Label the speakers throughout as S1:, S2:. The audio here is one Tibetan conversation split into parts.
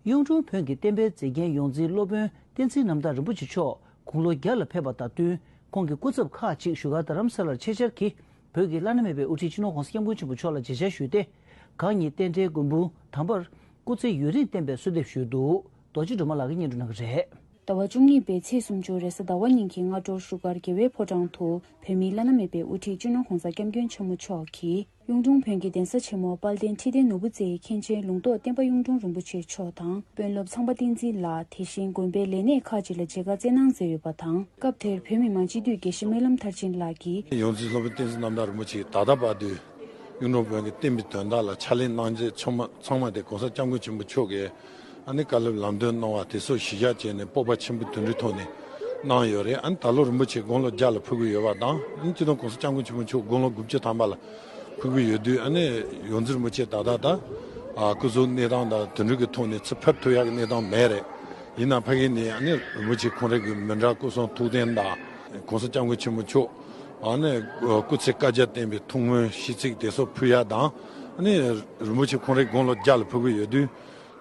S1: གཡུང་དྲུང་བོན་གྱི་བསྟན་པའི་མཛེས་རྒྱན་ཡོངས་འཛིན་སློབ་དཔོན་བསྟན་འཛིན་རྣམ་དག་རིན་པོ་ཆེ་མཆོག་དགུང་ལོ་བརྒྱ་ལ་ཕེབས་པ་དང་བསྟུན་ཁོང་གི་སྐུ་ཚབ་ཁག་ཅིག་བཞུགས་སྒར་རྡ་རམ་ས་ལར་ཆེད་བཅར་གྱིས་བོད་ཀྱི་བླ་ན་མེད་པའི་དབུ་ཁྲིད་སྤྱི་ནོར ྋགོང་ས ྋསྐྱབས་མགོན་ཆེན་པོ་མཆོག་ལ་མཇལ་བཅར་ཞུས་ཏེ། གང་ཉིད་རྟེན་འབྲེལ་མགོན་དཔུང་དམ་པར་སྐུ་ཚེ་ཡུན་རིང་བརྟན་པའི་གསོལ་འདེབས་ཞུས་འདུག་རྡོ་རྗེ་སྒྲོལ་མ་ལགས་ཀྱིས་སྙན་སྒྲོན་གནང་གི་རེད། ཟླ་བ་བཅུ་གཉིས་པའི་
S2: ཚེས་སུམ་ཅུ་རེས་གཟའ་ཟླ་བ་ཉིན་གྱི་སྔ་དྲོར་བཞུགས་སྒར་རྒྱལ་བའི་ཕོ་བྲང་དུ་བོད་མིའི་བླ་ན་མེད་པའི་དབུ་ཁྲིད་སྤྱི་ནོར ྋགོང་ས ྋསྐྱབས་མགོན་ཆེན་མོ་མཆོག་གིས། གཡུང་དྲུང་བོན་གྱི་གདན་ས་ཆེན་མོ་དཔལ་ལྡན་ཁྲི་བརྟན་ནོར་བུ་རྩེའི་མཁན་ཆེན་ལུང་རྟོགས་བསྟན་པ་གཡུང་དྲུང་རིན་པོ་ཆེ་མཆོག་དང་དཔོན་སློབ་ཚངས་པ་བསྟན་འཛིན་ལགས་དེ་བཞིན་དགོན་པའི་ལས་སྣེ་ཁག་ཅིག་ལ་མཇལ་ཁ་བསྩལ་གནང་མཛད་ཡོད་པ་དང། སྐབས་དེར་བོད་མི་མང་སྤྱི་འཐུས་དགེ་བཤེས་སྨོན་ལམ་མཐར་ཕྱིན་ལགས་ཀྱིས། ཡོངས་འཛིན་སློབ་དཔོན་བསྟན་འཛིན་རྣམ་
S3: དག་རིན་པོ་ཆེས་ད་ལྟ་བར་དུ་གཡུང་དྲུང་བོན་གྱི་བསྟན་པའི་དོན་དག་ལ་ཕྱག་ལས་གནང་རྗེས་ཚང་མ་ཚང་མ་དེ ྋགོང་ས་སྐྱབས་མགོན་ཆེན་པོ་མཆོག་གིས་ཨ་ནི་བཀའ་སློབ་ལམ་སྟོན་གནང་བ་དེ་སོགས་ཞི་འཇགས་བྱས་ནས་སྤོབས་པ་ཆེན་པོ་དོན་འགྲུབ་ཐོག་ནས་གནང་ཡོད་རེད་ཨ་ནི་ད་ལོ་རིན་པོ་ཆེ་དགུང་ལོ་བརྒྱ་ལ་ཕུལ་གི་ཡོད་པ་དང་ཨ་ནི་སྤྱི་བསྡོམས་ཀུང་སི་སྐྱབས་མགོན་ཆེན་པོ་མཆོག་དགུང་ལོ་དགུ་བཅུ་ཐམ་པ་ལ་ཕུལ་གི་ཡོད་དུས་ཨ་ནི་ཡོངས་འཛིན་རིན་པོ་ཆེ་ད་ལྟ་དང་སྐུ་གཟུགས་གནས་སྟངས་དང་དོན་འགྲུབ་ཀྱི་ཐོག་ནས་ཚུར་ཕེབས་ཐུབ་ཡག་གི་གནས་སྟངས་མེད་རེད་ཡིན་ནང་ཕ་གི་ནི་ཨ་ནི་རིན་པོ་ཆེ་ཁོང་རེ་གི་མི་འདྲ་སྐུ་གསུང་ཐུགས་རྟེན་དང་ཀུང་སི་སྐྱབས་མགོན་ཆེན་པོ་མཆོག་ཨ་ནི་སྐུ་ཚེ་བསྐལ་བརྒྱར་བརྟན་པའི་ཐུགས་སྨོན་ཤིས་ཚིག་དེ་སོགས་ཕུལ་ཡག་དང། རིན་པོ་ཆེ་ཁོང་རེ་དགོང་ལོ་བརྒྱ་ལ་ཕུལ་གི་ཡོད་དུས།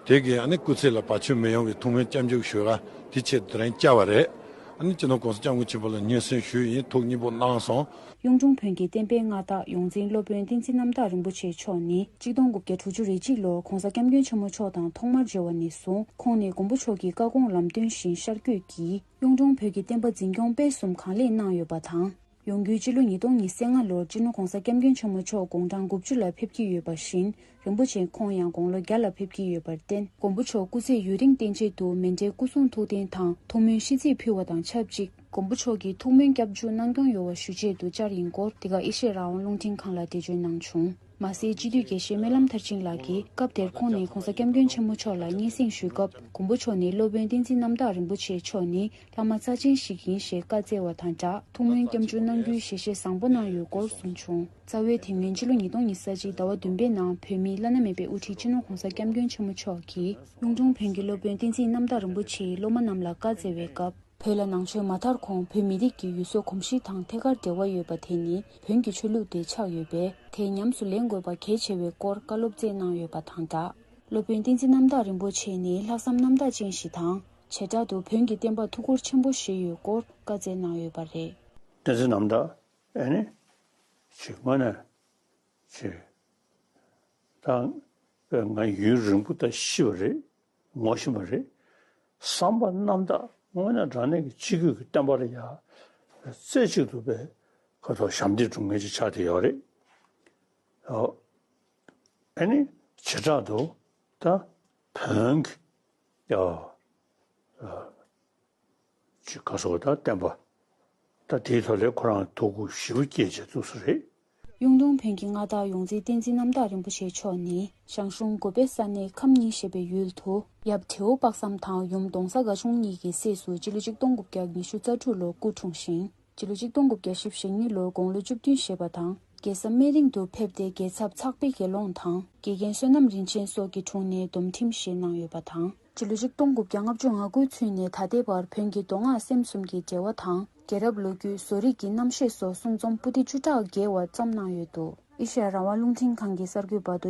S3: དེ་གའི་སྐུ་ཚེ་ལ་བར་ཆོད་མི་ཡོང་བའི་ཐུགས་སྨོན་སྐྱབས་འཇུག་ཞུ་ར་དེ་ཆེད་དུ་རེན་བཅར་བ་རེད། སྤྱི་ནོར ྋགོང་ས ྋསྐྱབས་མགོན་ཆེན་པོ་ལ་སྙན་གསེང་ཞུ་ཡིན་ཐུགས་སྙིང་པོ་གནང་སོང། གཡུང་དྲུང་བོན་གྱི་
S2: བསྟན་པའི་མངའ་བདག་ཡོངས་འཛིན་སློབ་དཔོན་བསྟན་འཛིན་རྣམ་དག་རིན་པོ་ཆེ་མཆོག་ནི། གཅིག་སྟོང་དགུ་བརྒྱ་དྲུག་ཅུ་རེ་གཅིག་ལོར ྋགོང་ས ྋསྐྱབས་མགོན་ཆེན་མོ་མཆོག་དང་ཐོག་མར་མཇལ་བ་ནས་བཟུང་ཁོང་ནི་མགོན་པོ་མཆོག་གི་བཀའ་དགོངས་ལམ་སྟོན་བཞིན་ཤར་བསྐྱོད་ཀྱིས་གཡུང་དྲུང་བོད་ཀྱི་བསྟན་པ་འཛིན་སྐྱོང་སྤེལ་གསུམ་གང་ལེགས་གནང་ཡོད་པ་དང། ཡོང་རྒྱུའི་སྤྱི་ལོ་ཉིས་སྟོང་ཉིས་སེ་ལྔ་ལོར་སྤྱི་ནོར ྋགོང་ས ྋསྐྱབས་མགོན་ཆེན་མོ་མཆོག་དགུང་གྲངས་དགུ་བཅུ་ལ་ཕེབས་ཀྱི་ཡོད་པ་བཞིན་རིན་པོ་ཆེ་ཁོང་ཡང་དགུང་ལོ་བརྒྱ་ལ་ཕེབས་ཀྱི་ཡོད་པར་བརྟེན། མགོན་པོ་མཆོག་སྐུ་ཚེ་ཡུན་རིང་བརྟན་ཆེད་དུ་མེ་འབྲས་སྐུ་གསུང་ཐུགས་རྟེན་དང་ཐུགས་སྨོན་ཤིས་ཚིག་ཕུལ་བ་དང་ཆབས་ཅིག་མགོན་པོ་མཆོག་གི་ཐུགས་སྨོན་སྐྱབས་འཇུག་གནང་སྐྱོང་ཡོང་བ་ཞུ་ཆེད་དུ་བཅར་ཡིན་སྐོར་འདི་ག་ཨེ་ཤེ་ར་ཨོང་རླུང་འཕྲིན་ཁང་ལ་འགྲེལ་བརྗོད་གནང་བྱུང། མ་ཟད་སྤྱི་འཐུས་དགེ་བཤེས་སྨོན་ལམ་མཐར་ཕྱིན་ལགས་ཀྱིས་སྐབས་དེར་ཁོང་ནས་གོང་ས་སྐྱབས་མགོན་ཆེན་མོ་མཆོག་ལ་སྙན་སེང་ཞུས་སྐབས་མགོན་པོ་མཆོག་ནི་སློབ་དཔོན་བསྟན་འཛིན་རྣམ་དག་རིན་པོ་ཆེ་མཆོག་ནི་ལྷ་མ་རྩ་ཆེན་ཞིག་ཡིན་ཞེས་བཀའ་བསྩལ་བ་དང་སྦྲགས་ཐུགས་སྨོན་སྐྱབས་འཇུག་གནང་རྒྱུའི་ཞལ་བཞེས་བཟང་པོ་གནང་ཡོད་སྐོར་གསུངས་བྱུང། རྩ་བའི་དེ་སྔོན་ཕྱི་ལོ་ཉིས་སྟོང་ཉིས་ས་གཅིག་ཟླ་བ་བདུན་པའི་ནང་བོད་མིའི་བླ་ན་མེད་པའི་དབུ་ཁྲིད་སྤྱི་ནོར་གོང་ས་སྐྱབས་མགོན་ཆེན་མོ་མཆོག་གིས་གཡུང་དྲུང་བོན་གྱི་སློབ་དཔོན་བསྟན་འཛིན་རྣམ་དག་རིན་པོ་ཆེའི་སློབ་མ་རྣམས་ལ་བཀའ་བསྩལ་བའི་སྐབས། བོད་ལ་ནང་ཆོས་མ་དར་གོང་བོད་མི་རིགས་ཀྱི་ཡུལ་སྲོལ་གོམས་གཤིས་དང་ཐད་ཀར་འབྲེལ་བ་ཡོད་པ་དེ་ནི་བོན་གྱི་ཆོས་ལུགས་དེ་ཆགས་ཡོད་པས་དེ་ཉམས་སུ་ལེན་དགོས་པ་གལ་ཆེ་བའི་སྐོར་བཀའ་སློབ་སྩལ་གནང་ཡོད་པ་དང་སྦྲགས། སློབ་དཔོན་བསྟན་འཛིན་རྣམ་དག་རིན་པོ་ཆེ་ནི་ལྷག་བསམ་རྣམ་དག་ཅན་ཞིག་དང། བྱེ་བྲག་ཏུ་བོན་གྱི་བསྟན་པར་ཐུགས་ཁུར་ཆེན་པོ་བཞེས་ཡོད་སྐོར་བཀའ་སྩལ་གནང་ཡོད་པ་རེད། བསྟན་འཛིན་རྣམ་དག་
S4: ཨེ་ནི་ཅི་སྔ་ན་ཅི། དང་བོད་ང་ཡུན་རིང་པོ་ད་ཤི་བ་རེད། ངོ་ཤེས་པ་རེད། བསམ་པ་རྣམ་དག་དངོས་གནས་དྲང་གནས་ཀྱི་སྤྱི་རྒྱུད་ཀྱི་བསྟན་པ་རེད་ཡ། རྩེ་གཅིག་ཏུ་པའི་ཁ་ཐོག་ཞབས་འདེགས་སྒྲུབ་མཁན་གྱི་ཆ་དེ་ཡོད་རེད། ཨོ། ཨེ་ནི། བྱེ་བྲག་ཏུ། ད། བོན་གྱི། ཨོ། ཅེས་བཀའ་སྩལ་བ་དང་བསྟན་པ། ད་དེའི་ཐོག་ལས་ཁོ་རང་ཐུགས་ཁུར་ཞི་བོ་སྐྱེད་བྱེད་བཙུགས་ས་རེད། གཡུང་དྲུང་བོན་
S2: གྱི་མངའ་བདག་ཡོངས་འཛིན་བསྟན་འཛིན་རྣམ་དག་རིན་པོ་ཆེ་མཆོག་ནི། ཞང་ཞུང་མགོ་དཔེ་ས་གནས་ཁམས་སྙིང་ཞེས་པའི་ཡུལ་དུ། ཡབ་དེའུ་དཔག་བསམ་དང་ཡུམ་གདོང་ས་དགའ་ཆུང་གཉིས་ཀྱི་སྲས་སུ་སྤྱི་ལོ་ཆིག་སྟོང་དགུ་བརྒྱ་ཉི་ཤུ་རྩ་དྲུག་ལོར་སྐུ་འཁྲུངས་ཤིང། སྤྱི་ལོ་ཆིག་སྟོང་དགུ་བརྒྱ་ཞེ་བཞི་གཉིས་ལོར་དགུང་ལོ་བཅུ་བདུན་བཞེས་པ་དང་རྒྱལ་ས་སྨན་རིང་དུ་ཕེབས་ཏེ་རྒྱལ་ཚབ་ཚགས་པའི་དགེ་སློང་དང་དགེ་རྒན་བསོད་ནམས་རིན་ཆེན་སོགས་ཀྱི་དྲུང་ནས་སྡོམ་ཁྲིམས་བཞེས་གནང་ཡོད་པ་དང། སྤྱི་ལོ་ཆིག་སྟོང་དགུ་བརྒྱ་ལྔ་བཅུ་ང་དགུའི་ཚུན་ནས་ད་ལྟའི་བར་བོན་གྱི་མདོ་སྔགས་སེམས་གསུམ་གྱི་འགྲེལ་བ་དང་རྒྱལ་རབས་ལོ་རྒྱུས་བཟོ་རིག་གི་རྣམ་བཤད་སོགས་གསུང་རྩོམ་པོ་ཏི་བཅུ་ཕྲག་བརྒལ་བ་རྩོམ་གནང་ཡོད་འདུག་ཨེ་ཤེ་ཡ་རང་དབང་རླུང་འཕྲིན་ཁང་གི་གསར་འགོད་པ་རྡོ་རྗེ